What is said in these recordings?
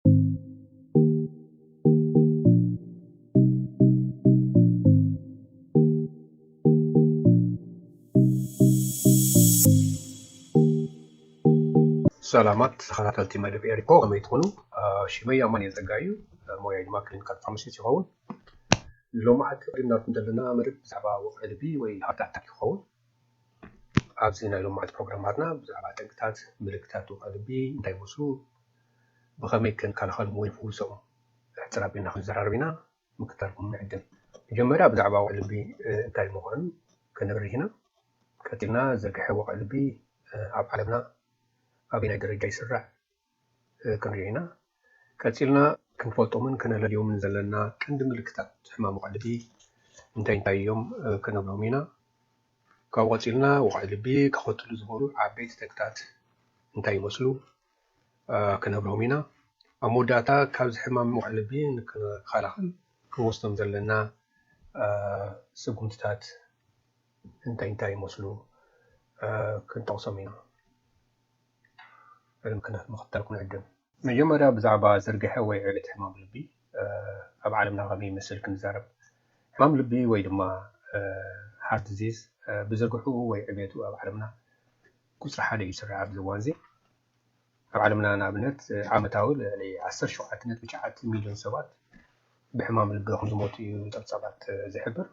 ሰላማት ተኸታተልቲ መደብ ኤሪኮ ከመይ ትኾኑ? ሽመይ ኣማን እየ ዘጋዩ ሞያ ድማ ክሊኒካል ፋርማሲስት ይኸውን። ሎማዓንቲ ሪናት ዘለና መደብ ብዛዕባ ወቕዒ ልቢ ወይ ሃርት ኣታክ ይኸውን። ኣብዚ ናይ ሎምዓንቲ ፕሮግራማትና ብዛዕባ ጠንቅታት ምልክታት ድካ ልቢ እንታይ ይመስሉ ብከመይ ክንከላከሎም ወይ ንፍውሶም ሕጽር ኣቢልና ክንዘራረብ ኢና ምክታልኩም ንዕድም መጀመርያ ብዛዕባ ወቅዒ ልቢ እንታይ ምኳኑ ክንብርህ ኢና ቀጢልና ዝርግሐ ወቅዒ ልቢ ኣብ ዓለምና ኣበናይ ደረጃ ይስራዕ ክንሪኦ ኢና። ቀጺልና ክንፈልጦምን ከነለልዮምን ዘለና ቀንዲ ምልክታት ሕማም ወቕዒ ልቢ እንታይ እንታይ እዮም ክንብሎም ኢና። ካብኡ ቀጺልና ወቕዒ ልቢ ከኸትሉ ዝኽእሉ ዓበይቲ ተግታት እንታይ ይመስሉ ክንብሎም ኢና። ኣብ መወዳእታ ካብዚ ሕማም ወቕዒ ልቢ ንክንከላኸል ክንወስዶም ዘለና ስጉምትታት እንታይ እንታይ ይመስሉ ክንጠቕሶም ኢና። ዕልም ክነት ምኽታል ክንዕድም። መጀመርያ ብዛዕባ ዝርግሐ ወይ ዕብት ሕማም ልቢ ኣብ ዓለምና ከመይ ይመስል ክንዛረብ። ሕማም ልቢ ወይ ድማ Heart Disease ብዝርግሕኡ ወይ ዕብየቱ ኣብ ዓለምና ቁጽሪ ሓደ እዩ ዝስራዕ ኣብዚ እዋንዚ። ኣብ ዓለምና ንኣብነት ዓመታዊ ልዕሊ ዓሰርተ ሸውዓተ ነጥቢ ትሽዓተ ሚልዮን ሰባት ብሕማም ልቢ ከምዝሞቱ እዩ ጸብጻባት ዝሕብር።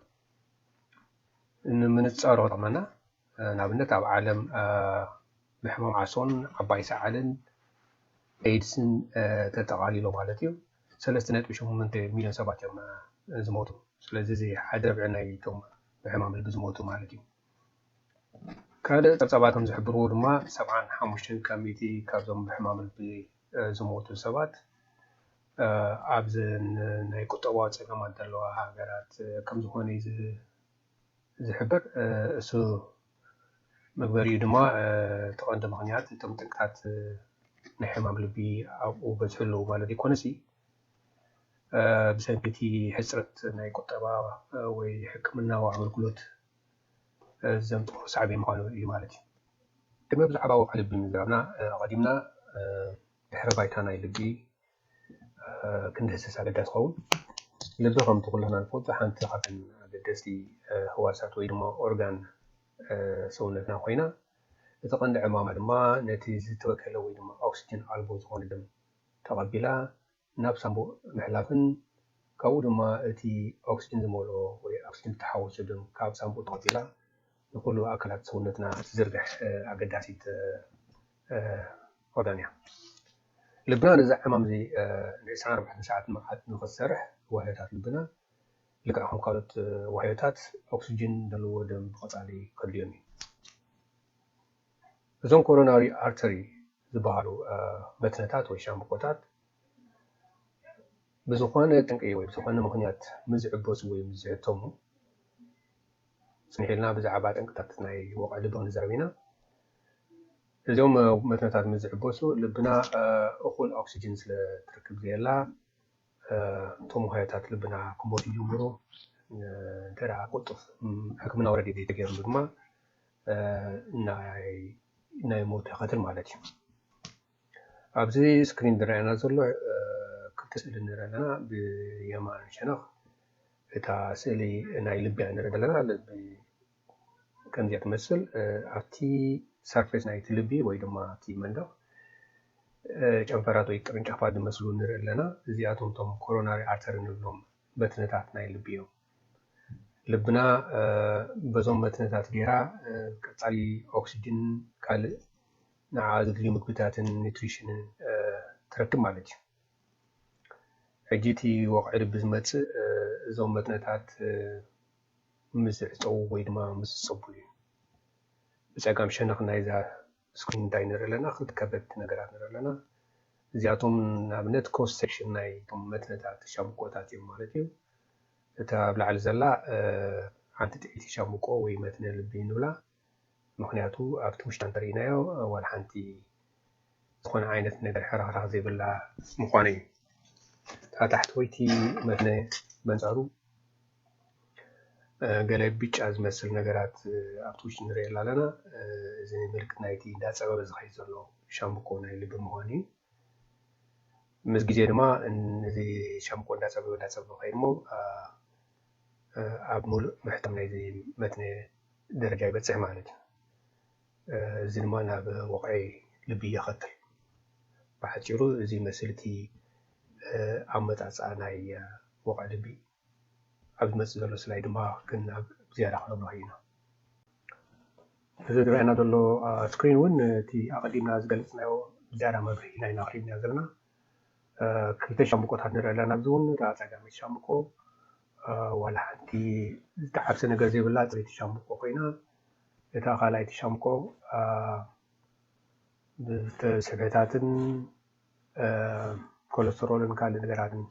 ንምንጻሩ ክጠቕመና ንኣብነት ኣብ ዓለም ብሕማም ዓሶን ዓባይ ሰዓልን ኤድስን ተጠቓሊሎ ማለት እዩ ሰለስተ ነጥቢ ሸሞንተ ሚልዮን ሰባት እዮም ዝሞቱ ስለዚ እዚ ሓደ ርብዒ ናይቶም ብሕማም ልቢ ዝሞቱ ማለት እዩ ካልእ ጸብጻባት ከም ዝሕብርዎ ድማ ሰብዓን ሓሙሽተን ካብ ሚእቲ ካብዞም ብሕማም ልቢ ዝሞቱ ሰባት ኣብዚ ናይ ቁጠባዊ ጸገማት ዘለዋ ሃገራት ከም ዝኾነ እዩ ዝሕብር እሱ መግበሪኡ ድማ እቲ ቀንዲ ምክንያት እቶም ጥቅታት ናይ ሕማም ልቢ ኣብኡ በዝሑ ኣለዉ ማለት ዘይኮነሲ ብሰንኪ እቲ ሕፅረት ናይ ቁጠባ ወይ ሕክምናዊ ኣገልግሎት ዘምፅኦ ሳዕቤን ምዃኑ እዩ ማለት እዩ። ቅድሚ ብዛዕባ ወቕዒ ልቢ ምዝራብና ኣቐዲምና ድሕረ ባይታ ናይ ልቢ ክንድህስስ ኣገዳሲ ይኸውን። ልቢ ከምቲ ኩልና ንፈልጦ ሓንቲ ካብተን ኣገደስቲ ህዋሳት ወይ ድማ ኦርጋን ሰውነትና ኮይና እቲ ቀንዲ ዕማማ ድማ ነቲ ዝተበከለ ወይ ድማ ኦክስጅን ኣልቦ ዝኾነ ደም ተቐቢላ ናብ ሳንቡእ ምሕላፍን ካብኡ ድማ እቲ ኦክስጅን ዝመልኦ ወይ ኦክስጅን ዝተሓወሶ ደም ካብ ሳንቡእ ተቐቢላ ንኹሉ ኣካላት ሰውነትና እትዝርግሕ ኣገዳሲት ኦርጋን እያ። ልብና ነዚ ዕማም እዚ ን ዕስራን ኣርባዕተን ሰዓት ንቕሓት ንኽሰርሕ ዋህዮታት ልብና ልክዕ ከም ካልኦት ዋህዮታት ኦክስጅን ዘለዎ ደም ብቐጻሊ ከድልዮም እዩ። እዞም ኮሮናሪ ኣርተሪ ዝበሃሉ መትንታት ወይ ሻምብቆታት ብዝኾነ ጠንቂ ወይ ብዝኾነ ምኽንያት ምስ ዝዕበሱ ወይ ምስ ዝሕተሙ፣ ጽንሕ ኢልና ብዛዕባ ጠንቅታት ናይ ወቕዒ ልቢ ክንዛረብ ኢና። እዞም መትንታት ምስ ዝዕበሱ፣ ልብና እኹል ኦክስጅን ስለ ትረክብ ዘየላ፣ እቶም ዋህዮታት ልብና ክሞቱ ይጅምሩ። እንተ ደኣ ቅልጡፍ ሕክምናዊ ረድኤት ዘይተገይርሉ ድማ ናይ ሞት ተኸትል ማለት እዩ። ኣብዚ ስክሪን ዝረኣየና ዘሎ ክልተ ስእሊ ንርኢ ኣለና ብየማን ሸነኽ እታ ስእሊ ናይ ልቢ እያ ንርኢ ዘለና ልቢ ከምዚ እያ ትመስል ኣብቲ ሰርፌስ ናይቲ ልቢ ወይ ድማ ኣብቲ መንደቕ ጨንፈራት ወይ ቅርንጫፋት ዝመስሉ ንርኢ ኣለና እዚኣቶም እቶም ኮሮናሪ ኣርተሪ ንብሎም መትንታት ናይ ልቢ እዮም ልብና በዞም መትንታት ገይራ ቀፃሊ ኦክሲጅን ካልእ ንዓኣ ዘድልዩ ምግብታትን ኒትሪሽንን ትረክብ ማለት እዩ። ሕጂ እቲ ወቕዒ ልቢ ዝመጽእ እዞም መትንታት ምስ ዝዕጸዉ ወይ ድማ ምስ ዝጸብሉ እዩ። ብጸጋም ሸነኽ ናይዛ ስክሪን እንታይ ንርኢ ኣለና? ክልተ ከበድቲ ነገራት ንርኢ ኣለና። እዚኣቶም ንኣብነት ክሮስ ሴክሽን ናይቶም መትንታት ሻምብቆታት እዮም ማለት እዩ። እታ ኣብ ላዕሊ ዘላ ሓንቲ ጥዒቲ ሻምብቆ ወይ መትኒ ልቢ ንብላ። ምኽንያቱ ኣብቲ ውሽጣ እንተሪኢናዮ ዋላ ሓንቲ ዝኾነ ዓይነት ነገር ሕርኽራኽ ዘይብላ ምዃኑ እዩ። እታ ታሕተወይቲ መትነ በንጻሩ ገለ ብጫ ዝመስል ነገራት ኣብቲ ውሽጢ ንሪኤላ ኣለና። እዚ ምልክት ናይቲ እንዳጸበበ ዝኸይድ ዘሎ ሻምብቆ ናይ ልቢ ምዃኑ እዩ። ምስ ግዜ ድማ እዚ ሻምብቆ እንዳጸበበ እንዳጸበበ ከይድሞ ኣብ ሙሉእ ምሕታም ናይዚ መትኒ ደረጃ ይበጽሕ ማለት እዩ። እዚ ድማ ናብ ወቕዒ ልቢ የኸትል። ብሓጺሩ እዚ ይመስል እቲ ኣመጻጽኣ ናይ ወቕዒ ልቢ። ኣብ ዝመጽእ ዘሎ ስላይ ድማ ብዝያዳ ክነብርሆ ኢና። እዚ ዝረኣየና ዘሎ ስክሪን እውን እቲ ኣቐዲምና ዝገለጽናዮ ብዝያዳ መብርሂ ናይ ናትሪን ኢና ዘለና። ክልተ ሻምብቆታት ንርኢ ኣለና። ኣብዚ እውን እታ ጸጋመይቲ ሻምብቆ ዋላ ሓንቲ ዝተሓብሰ ነገር ዘይብላ ጽሪቲ ሻምብቆ ኮይና እታ ካልኣይቲ ሻምብቆ ብስብሕታትን ኮለስተሮልን ካልእ ነገራትን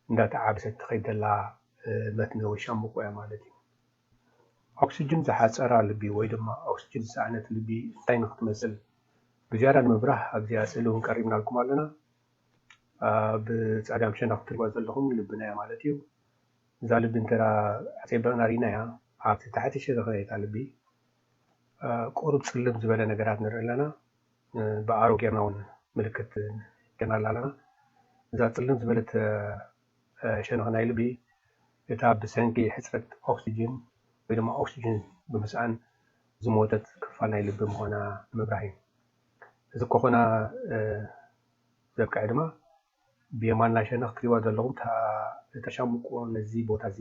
እንዳተዓብሰት ትኸይድ ዘላ መትኒ ወይ ሻምብቆ እያ ማለት እዩ። ኦክስጅን ዝሓጸራ ልቢ ወይ ድማ ኦክስጅን ዝሰኣነት ልቢ እንታይ ንክትመስል ብዝያዳ ንምብራህ ኣብዚኣ ስእሊ ውን ቀሪብናልኩም ኣሎና። ኣብ ጸጋም ሸነኽ ትሪእዋ ዘለኹም ልብና እያ ማለት እዩ። እዛ ልቢ እንተ ኣጸቢቕና ሪእናያ ኣብቲ ታሕቲ ሸነኽ ናይታ ልቢ ቁሩብ ጽልም ዝበለ ነገራት ንርኢ ኣለና። ብኣሮ ጌርና ውን ምልክት ጌርናላ ኣለና። እዛ ጽልም ዝበለት ሸነኽ ናይ ልቢ እታ ብሰንኪ ሕጽረት ኦክስጅን ወይ ድማ ኦክስጅን ብምስኣን ዝሞተት ክፋል ናይ ልቢ ምዃና ምብራህ እዩ። እዚ ከኾና ዘብቀዐ ድማ ብየማና ሸነኽ ትሪእዋ ዘለኹም እታ እታ ሻምብቆ ነዚ ቦታ እዚ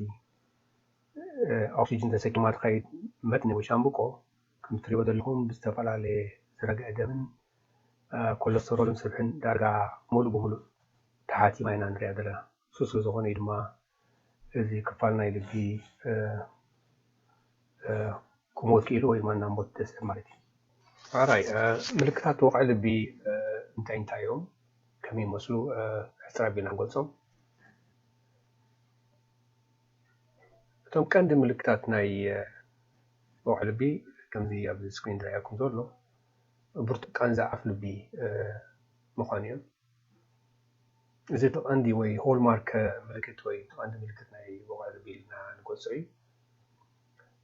ኦክስጅን ተሰኪማ ትኸይድ መትኒ ወይ ሻምብቆ ከምቲ ትሪእዎ ዘለኹም ብዝተፈላለየ ዝረግዐ ደምን ኮለስተሮልን ስብሕን ዳርጋ ሙሉእ ብሙሉእ ተሓቲማ ኢና ንሪኣ ዘለና። እሱ ስለ ዝኾነ እዩ ድማ እዚ ክፋል ናይ ልቢ ክሞት ክኢሉ ወይ ድማ ናብ ሞት ደስብ ማለት እዩ። ራይ ምልክታት ወቕዒ ልቢ እንታይ እንታይ እዮም? ከመይ ይመስሉ? ሕፅር ኣቢልና ንገልፆም። እቶም ቀንዲ ምልክታት ናይ ወቕዒ ልቢ ከምዚ ኣብዚ ስክሪን ዝረኣየኩም ዘሎ ብርቱዕ ቃንዛ ኣፍ ልቢ ምዃን እዩ። እዚ እቲ ቀንዲ ወይ ሆልማርክ ምልክት ወይ እቲ ቀንዲ ምልክት ናይ ወቕዒ ልቢ ኢልና ንገልጾ እዩ።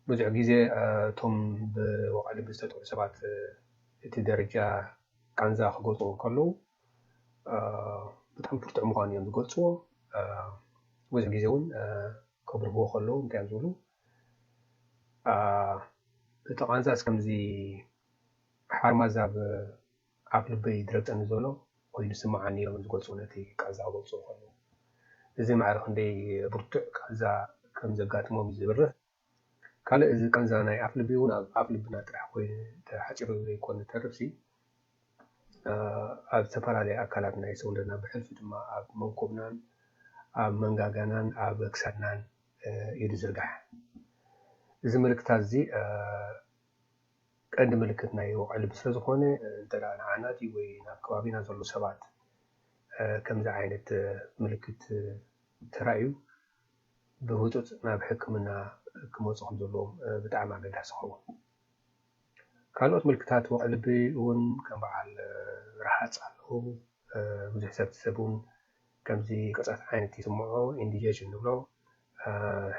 ብዙሕ ግዜ እቶም ብወቕዒ ልቢ ዝተጠቕዑ ሰባት እቲ ደረጃ ቃንዛ ክገልጹ እንከለዉ ብጣዕሚ ብርቱዕ ምዃኑ እዮም ዝገልጽዎ። ብዙሕ ግዜ እውን ከብርህዎ ከለዉ እንታይ እዮም ዝብሉ እቲ ቃንዛስ ከምዚ ሓርማዝ ኣብ ኣፍ ልበይ ዝረግጸኒ ዘሎ ኮይኑ ይስምዓኒ ኢሎም ዝገልጹ ነቲ ቃንዛ ክገልጽዎ ከለዉ እዚ ማዕረ ክንደይ ብርቱዕ ቃንዛ ከም ዘጋጥሞም እዩ ዝብርህ። ካልእ እዚ ቃንዛ ናይ ኣፍ ልቢ እውን ኣብ ኣፍ ልብና ጥራሕ ኮይኑ ተሓጺሩ ዘይኮነ ዝተርፍሲ ኣብ ዝተፈላለየ ኣካላት ናይ ሰውነትና ብሕልፊ ድማ ኣብ መንኩብናን ኣብ መንጋጋናን ኣብ ክሳድናን እዩ ዝዝርጋሕ። እዚ ምልክታት እዚ ቀንዲ ምልክት ናይ ወቕዒ ልቢ ስለ ዝኾነ እንተ ንዓናት እዩ ወይ ናብ ከባቢና ዘሎ ሰባት ከምዚ ዓይነት ምልክት ተራእዩ ብህፁፅ ናብ ሕክምና ክመፁ ከም ዘለዎም ብጣዕሚ ኣገዳሲ ይኸውን። ካልኦት ምልክታት ወቕዒ ልቢ እውን ከም በዓል ረሃጽ ኣለዉ። ብዙሕ ሰብ እቲ ሰብ እውን ከምዚ ቅርጸት ዓይነት ይስምዖ፣ ኢንዲጀሽን ንብሎ፣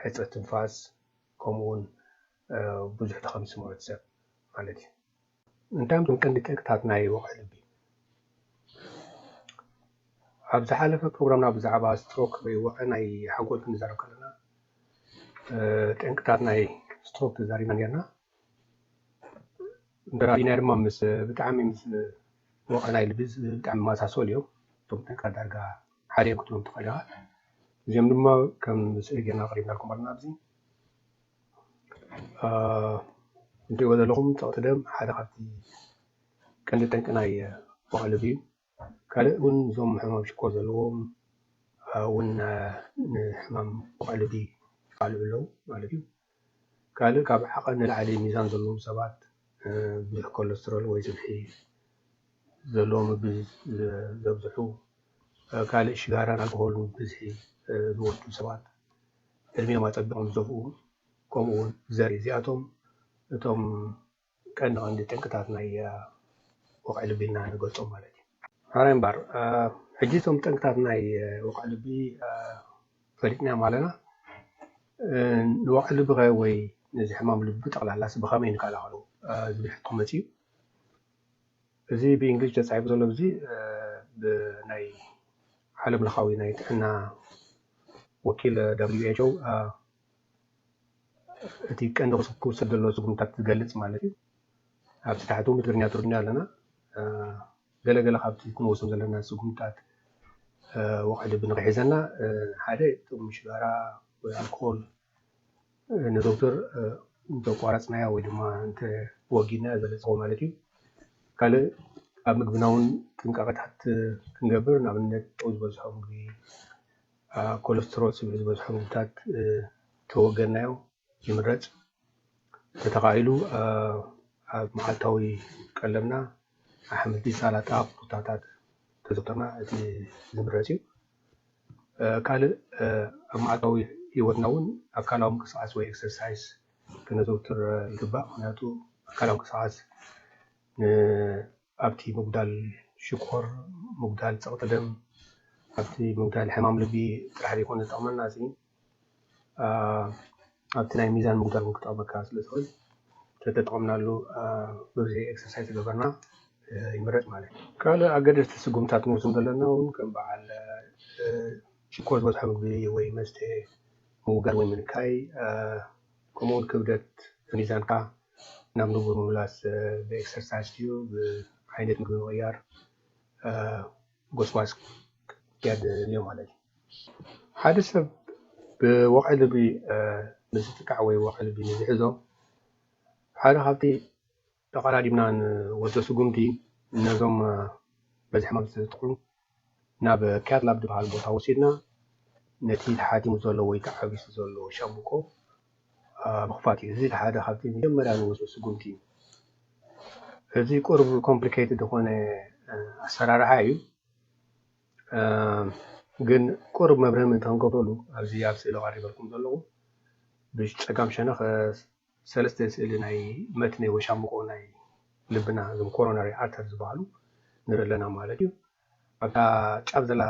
ሕጽረት ትንፋስ ከምኡ እውን ብዙሕ ድኻም ይስምዖ እቲ ሰብ ማለት እዩ። እንታይ እዮም እቶም ቀንዲ ጠንቅታት ናይ ወቕዒ ልቢ? ኣብ ዝሓለፈ ፕሮግራምና ብዛዕባ ስትሮክ ወይ ወቕዒ ናይ ሓንጎል ክንዛረብ ከለና ጠንቅታት ናይ ስትሮክ ተዛሪብና ነርና። ደራሲና ድማ ምስ ብጣዕሚ ምስ ወቀላይ ልቢ ብጣዕሚ ዝመሳሰሉ እዮም እቶም ጥንቅረ ዳርጋ ሓደ እዮም ክትብሎም ትኽእል ኢኻ እዚኦም ድማ ከም ስእሊ ጌርና ኣቕሪብናልኩም ኣለና ኣብዚ እንትሪእዎ ዘለኹም ፀቕጢ ደም ሓደ ካብቲ ቀንዲ ጠንቂ ናይ ወቐ ልቢ እዩ ካልእ ውን እዞም ሕማም ሽኮር ዘለዎም ውን ንሕማም ቋልዲ ይቃልዑ ኣለው ማለት እዩ። ካልእ ካብ ዓቐን ንላዕሊ ሚዛን ዘለዎም ሰባት ብዙሕ ኮለስትሮል ወይ ስብሒ ዘለዎ ምግቢ ዘብዝሑ፣ ካልእ ሽጋራን ኣልኮሆልን ብብዝሒ ዝወስዱ ሰባት ዕድሚኦም ኣጸቢቖም ዝደፍኡ ከምኡ ውን ዘርኢ እዚኣቶም እቶም ቀንዲ ቀንዲ ጠንቅታት ናይ ወቕዒ ልቢና ንገልጾም ማለት እዩ። ሐራይ እምባር ሕጂ እቶም ጠንቅታት ናይ ወቕዒ ልቢ ፈሊጥናዮም ኣለና። ንወቕዒ ልቢ ከ ወይ ነዚ ሕማም ልቢ ብጠቕላላስ ብኸመይ ንከላኸሎ ዝብል ሕቶ መጺኡ። እዚ ብእንግሊዝ ተጻሒፉ ዘሎ እዚ ብናይ ዓለም ለኻዊ ናይ ጥዕና ወኪል WHO እቲ ቀንዲ ክውሰድ ዘለዎ ስጉምታት ዝገልጽ ማለት እዩ ኣብዚ ታሕቱ ብትግርኛ ትርጉም ኣለና ገለ ገለ ካብቲ ክንወስዶም ዘለና ስጉምታት ወቕዒ ልቢ ንክሒዘና ሓደ ጥርሙሽ ሽጋራ ወይ ኣልኮል ንዶክተር እንተቋረፅናያ ወይ ድማ እንተወጊድናያ ዘለፀዎ ማለት እዩ ካልእ ኣብ ምግብና እውን ጥንቃቐታት ክንገብር ንኣብነት ጨው ዝበዝሖ ምግቢ ኮለስትሮል ስብ ዝበዝሖ ምግብታት ተወገናዮ ይምረፅ። እንተተኻኢሉ ኣብ መዓልታዊ ቀለብና ኣሕምልቲ፣ ሳላጣ፣ ቁስጣታት ተዘውተርና እቲ ዝምረፅ እዩ። ካልእ ኣብ መዓልታዊ ሂወትና እውን ኣካላዊ ምንቅስቃስ ወይ ኤክሰርሳይስ ክነዘውትር ይግባእ። ምክንያቱ ኣካላዊ ምንቅስቃስ ኣብቲ ምጉዳል ሽኮር፣ ምጉዳል ጸቕጢ ደም፣ ኣብቲ ምጉዳል ሕማም ልቢ ጥራሕ ዘይኮነ ዝጠቕመና እዚ ኣብቲ ናይ ሚዛን ምጉዳል ውን ክጠቕመካ ስለ ዝኽእል ተተጠቐምናሉ ብብዝሒ ኤክሰርሳይዝ ተገበርና ይምረጽ ማለት እዩ። ካልእ ኣገደስቲ ስጉምትታት ክንወስዶም ዘለና ውን ከም በዓል ሽኮር ዝበዝሖ ምግቢ ወይ መስተ ምውጋድ ወይ ምንካይ፣ ከምኡ ውን ክብደት ሚዛንካ ናብ ንቡር ምምላስ ብኤክሰርሳይስ ድዩ ብዓይነት ምግቢ ምቕያር ጎስጓስ ክትክያድ እንዮ ማለት እዩ። ሓደ ሰብ ብወቕዒ ልቢ ምስ ዝጥቃዕ ወይ ወቕዒ ልቢ ምስ ዝሕዞ ሓደ ካብቲ ተቐዳዲምና ን ወደ ስጉምቲ ነዞም በዚ ሕማም ዝተጠቕዑ ናብ ኬር ላብ ድበሃል ቦታ ወሲድና ነቲ ተሓቲሙ ዘሎ ወይ ተዓቢሱ ዘሎ ሻምብቆ ምኽፋት እዩ። እዚ ሓደ ካብቲ መጀመርያ ንወስዶ ስጉምቲ እዩ። እዚ ቁሩብ ኮምፕሊኬትድ ዝኾነ ኣሰራርሓ እዩ። ግን ቁሩብ መብርሂ ምእንቲ ክንገብረሉ ኣብዚ ኣብ ስእሊ ቀሪበልኩም ዘለኹ ብጸጋም ሸነኽ ሰለስተ ስእሊ ናይ መትኒ ወይ ሻምብቆ ናይ ልብና እዞም ኮሮነሪ ኣርተር ዝበሃሉ ንርኢ ኣለና ማለት እዩ። ኣብታ ጫፍ ዘላ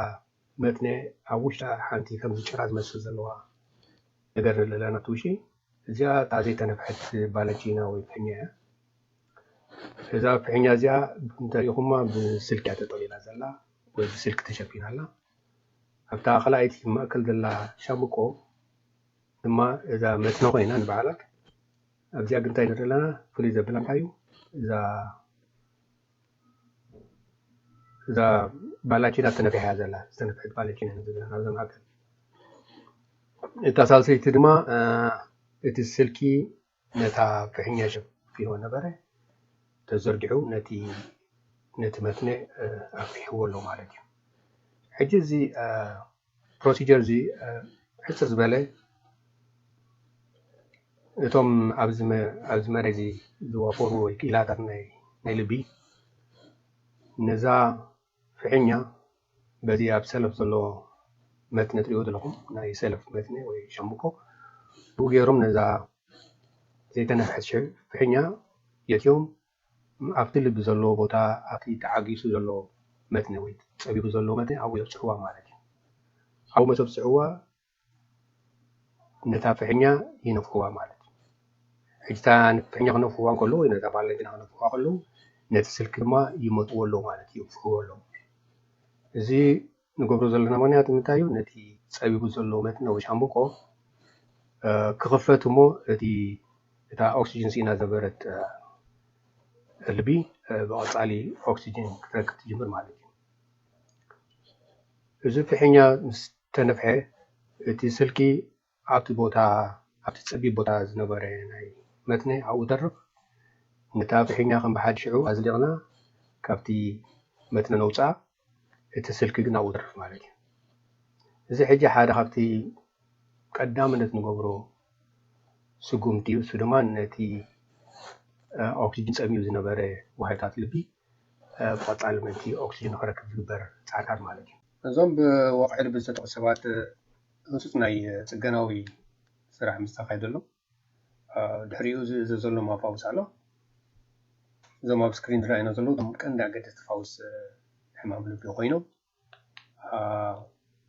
መትኒ ኣብ ውሽጣ ሓንቲ ከምዚ ጭራ ዝመስል ዘለዋ ነገር ንርኢ ኣለና ኣብቲ ውሽጢ። እዚኣ እታ ዘይተነፍሐት ባለንቺና ወይ ፍሕኛ እያ። እዛ ፍሕኛ እዚኣ እንተሪኢኹማ ብስልኪ እያ ተጠቕሊላ ዘላ ወይ ብስልኪ ተሸፊና ኣላ። ኣብታ ካልኣይቲ ማእከል ዘላ ሻምብቆ ድማ እዛ መትኒ ኮይና ንባዕላ ኣብዚኣ ግን እንታይ ንርኢ ኣለና ፍሉይ ዘብላ እንታይ እዩ እዛ እዛ ባላቺና ተነፊሓ እያ ዘላ ዝተነፍሐት ባላቺና ኢና ዘለና ናብዛ መካከል እታ ሳልሰይቲ ድማ እቲ ስልኪ ነታ ፍሕኛ ሸፊንዎ ነበረ፣ ተዘርጊሑ ነቲ ነቲ መትኒ ኣፍሒሕዎ ኣሎ ማለት እዩ። ሕጂ እዚ ፕሮሲጀር እዚ ሕጽር ዝበለ እቶም ኣብዚ ኣብዚ መሬት እዚ ዝዋፈሩ ወይ ክኢላታት ናይ ናይ ልቢ ነዛ ፍሒኛ በዚ ኣብ ሰለፍ ዘሎ መትኒ ትሪእዎ ዘለኹም ናይ ሰለፍ መትኒ ወይ ሻምብቆ ብኡ ገይሮም ነዛ ዘይተነፍሐት ፍሒኛ የእትዮም ኣብቲ ልቢ ዘለዎ ቦታ ኣብቲ ተዓጊሱ ዘሎ መትኒ ወይ ፀቢቡ ዘሎ መትኒ ኣብኡ የብፅሕዋ ማለት እዩ። ኣብኡ መሰብፅሕዋ ነታ ፍሕኛ ይነፍሕዋ ማለት እዩ። ሕጂ እታ ፍሕኛ ክነፍሕዋ ከሎ ወይ ነታ ባላ ጀና ክነፍሕዋ ከሎ ነቲ ስልኪ ድማ ይመጥዎ ኣሎ ማለት እዩ፣ ይንፍሕዎ ኣሎ። እዚ ንገብሮ ዘለና ምክንያት እንታይ እዩ? ነቲ ጸቢቡ ዘሎ መትኒ ወይ ሻምብቆ ክኽፈት እሞ እቲ እታ ኦክስጅን ስኢና ዝነበረት ልቢ ብቐጻሊ ኦክስጅን ክትረክብ ትጅምር ማለት እዩ። እዚ ፍሕኛ ምስ ተነፍሐ፣ እቲ ስልኪ ኣብቲ ቦታ ኣብቲ ጸቢብ ቦታ ዝነበረ ናይ መትኒ ኣብኡ ተርፍ፣ ነታ ፍሒኛ ከም ብሓዲ ሽዑ ኣዝሊቕና ካብቲ መትኒ ነውጽኣ፣ እቲ ስልኪ ግን ኣብኡ ተርፍ ማለት እዩ። እዚ ሕጂ ሓደ ካብቲ ቀዳምነት ንገብሮ ስጉምቲ እዩ፣ እሱ ድማ ነቲ ኦክስጅን ጸሚኡ ዝነበረ ዋህዮታት ልቢ ቆፃሊ ምእንቲ ኦክስጅን ንክረክብ ዝግበር ፃዕርታት ማለት እዩ። እዞም ብወቕዒ ልቢ ዝተጠቕሱ ሰባት ህፁፅ ናይ ፅገናዊ ስራሕ ምስ ተኻየደሎም ድሕሪኡ ዝእዘዘሎም ኣፋውስ ኣሎ። እዞም ኣብ ስክሪን ዝረኣዩና ዘለዉ እቶም ቀንዲ ኣገደስቲ ፋውስ ሕማም ልቢ ኮይኖም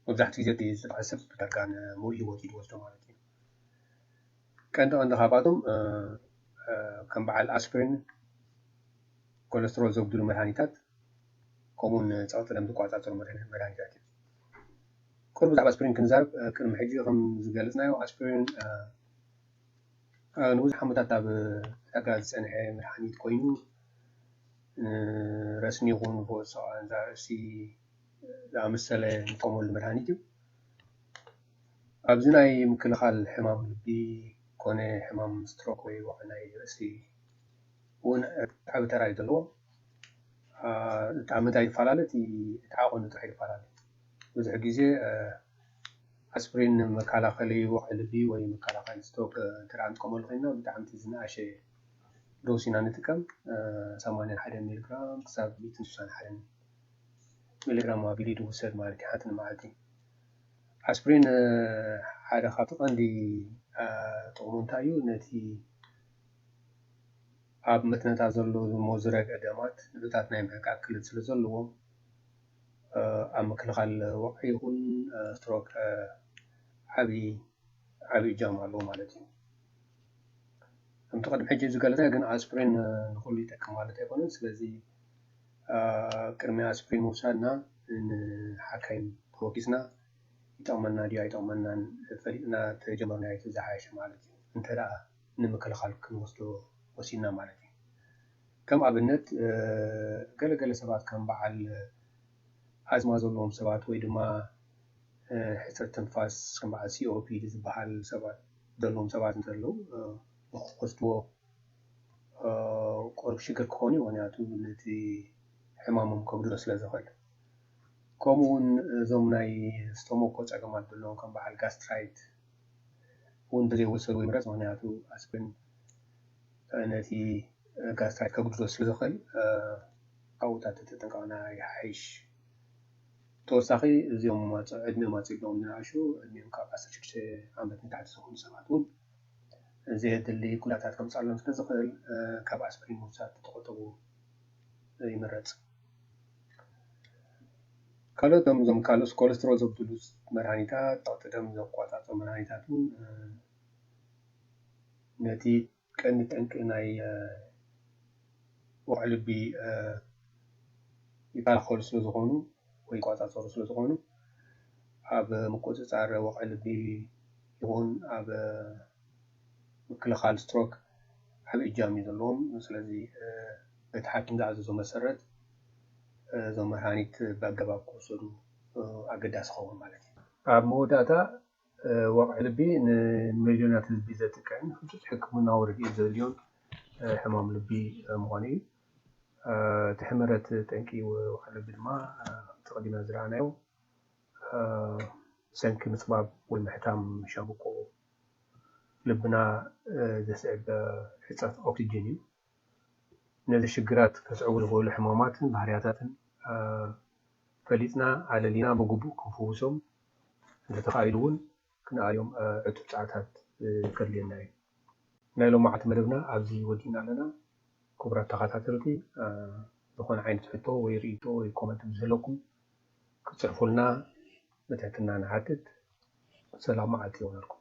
መብዛሕትኡ ግዜ እቲ ዝተጠቕዐ ሰብ ዳርጋ ንሙሉእ ህይወቱ እዩ ዝወስዶ ማለት እዩ። ቀንዲ ቀንዲ ካብኣቶም ከም በዓል ኣስፕሪን፣ ኮለስትሮል ዘጉድሉ መድሃኒታት ከምኡውን ጸቕጢ ደም ዝቆጻጸሩ መድሃኒታት እዩ። ቅሩ ብዛዕባ ኣስፕሪን ክንዛረብ ቅድሚ ሕጂ ከም ዝገለጽናዮ ኣስፕሪን ንብዙሕ ዓመታት ኣብ ዕዳጋ ዝጸንሐ መድሃኒት ኮይኑ ንረስኒ ይኹን ንፈወሲ ርእሲ ዝኣመሰለ ንጥቀመሉ መድሃኒት እዩ። ኣብዚ ናይ ምክልኻል ሕማም ልቢ ኮነ ሕማም ስትሮክ ወይ ወቕዒ ናይ ርእሲ እውን ዓቢ ተራ እዩ ዘለዎ። እቲ ኣብ ምንታይ ይፈላለ እቲ እቲ ዓቐኑ ጥራሕ ይፈላለ። ብዙሕ ግዜ ኣስፕሪን ንመከላኸሊ ወቕዒ ልቢ ወይ መከላኸሊ ስትሮክ እንተ ንጥቀመሉ ኮይንና ብጣዕሚ እቲ ዝነኣሸ ዶስ ኢና ንጥቀም፣ ሰማንያን ሓደን ሚሊግራም ክሳብ ሚእትን ስሳን ሓደን ሚሊግራም ኣቢሉ ይውሰድ ማለት እዩ ሓንቲ ንመዓልቲ። ኣስፕሪን ሓደ ካብቲ ቀንዲ ጥቕሙ እንታይ እዩ? ነቲ ኣብ መትንታት ዘሎ ዝሞ ዝረገ ደማት ንጥብታት ናይ ምሕቃቅ ክእለት ስለ ዘለዎ ኣብ ምክልኻል ወቕዒ ይኹን ስትሮክ ዓቢ ዓቢ እጃም ኣለዎ ማለት እዩ። ከምቲ ቅድሚ ሕጂ ዝገለጸ ግን ኣስፕሪን ንኹሉ ይጠቅም ማለት ኣይኮነን። ስለዚ ቅድሚ ኣስፕሪን ምውሳድና ንሓካይም ተወኪስና ይጠቕመና ድዩ ኣይጠቕመናን ፈሊጥና ተጀመርናዮ ዝሓሸ ማለት እዩ። እንተ ደኣ ንምክልኻል ክንወስዶ ወሲንና ማለት እዩ። ከም ኣብነት ገለገለ ሰባት ከም በዓል ኣዝማ ዘለዎም ሰባት ወይ ድማ ሕጽረት ትንፋስ ከም በዓል ሲኦፒዲ ዝበሃል ሰባት ዘለዎም ሰባት እንተለዉ ንክትወስድዎ ቁሩብ ሽግር ክኾን እዩ ምክንያቱ ነቲ ሕማሞም ከጉድሎ ስለ ዝኽእል ከምኡ ውን እዞም ናይ ስቶሞኮ ጸገማት ዘለዎም ከም በዓል ጋስትራይት ውን እንተዘይወሰድዎ ይምረጽ ምክንያቱ ኣስፕሪን ነቲ ጋስትራይት ከጉድሎ ስለ ዝኽእል ካብኡ ተትጥንቀቕና ይሓይሽ። ብተወሳኺ እዞም ዕድሚኦም ኣፅቢቦም ዝነኣሹ ዕድሚኦም ካብ ዓሰርተ ሽዱሽተ ዓመት ንታሕቲ ዝኾኑ ሰባት እውን ዘየድሊ ጉድኣታት ከምፅኣሎም ስለዝኽእል ካብ ኣስፕሪን ምውሳድ ተተቖጠቡ ይምረፅ። ካልኦት እዞም ካልኦስ ኮለስትሮል ዘጉድሉ መድሃኒታት፣ ፀቕጢ ደም ዝቆፃፀሩ መድሃኒታት እውን ነቲ ቀንዲ ጠንቂ ናይ ወቕዒ ልቢ ይከላኸሉ ስለዝኾኑ ወይ ይቆፃፀሩ ስለዝኾኑ ኣብ ምቁፅፃር ወቕዒ ልቢ ይኹን ኣብ ምክልኻል ስትሮክ ዓብይ እጃም እዩ ዘለዎም። ስለዚ እቲ ሓኪም ዝኣዘዞ መሰረት እዞም መድሃኒት ብኣገባብ ክውሰዱ ኣገዳሲ ይኸውን ማለት እዩ። ኣብ መወዳእታ ወቕዒ ልቢ ንሚልዮናት ህዝቢ ዘጥቅዕን ህጹጽ ሕክምናዊ ርድኢት ዘድልዮን ሕማም ልቢ ምዃኑ እዩ። እቲ ሕመረት ጠንቂ ወቕዒ ልቢ ድማ ከምቲ ቀዲምና ዝረኣናዮ ብሰንኪ ምጽባብ ወይ ምሕታም ሻምብቆ ልብና ዘስዕብ ሕጽረት ኦክስጅን እዩ። ነዚ ሽግራት ከስዕቡ ዝኽእሉ ሕማማትን ባህርያታትን ፈሊጥና ኣለሊና ብግቡእ ክንፍውሶም እንተተኻኢሉ እውን ክንኣልዮም ዕቱብ ጻዕርታት ከድልየና እዩ። ናይ ሎማዕቲ መደብና ኣብዚ ወዲእና ኣለና። ክቡራት ተኻታተልቲ ዝኾነ ዓይነት ሕቶ ወይ ርእይቶ ወይ ኮመንት ምስ ዘለኩም ክትጽሕፉልና ብትሕትና ንሓትት። ሰላም መዓልቲ ይኹነልኩም።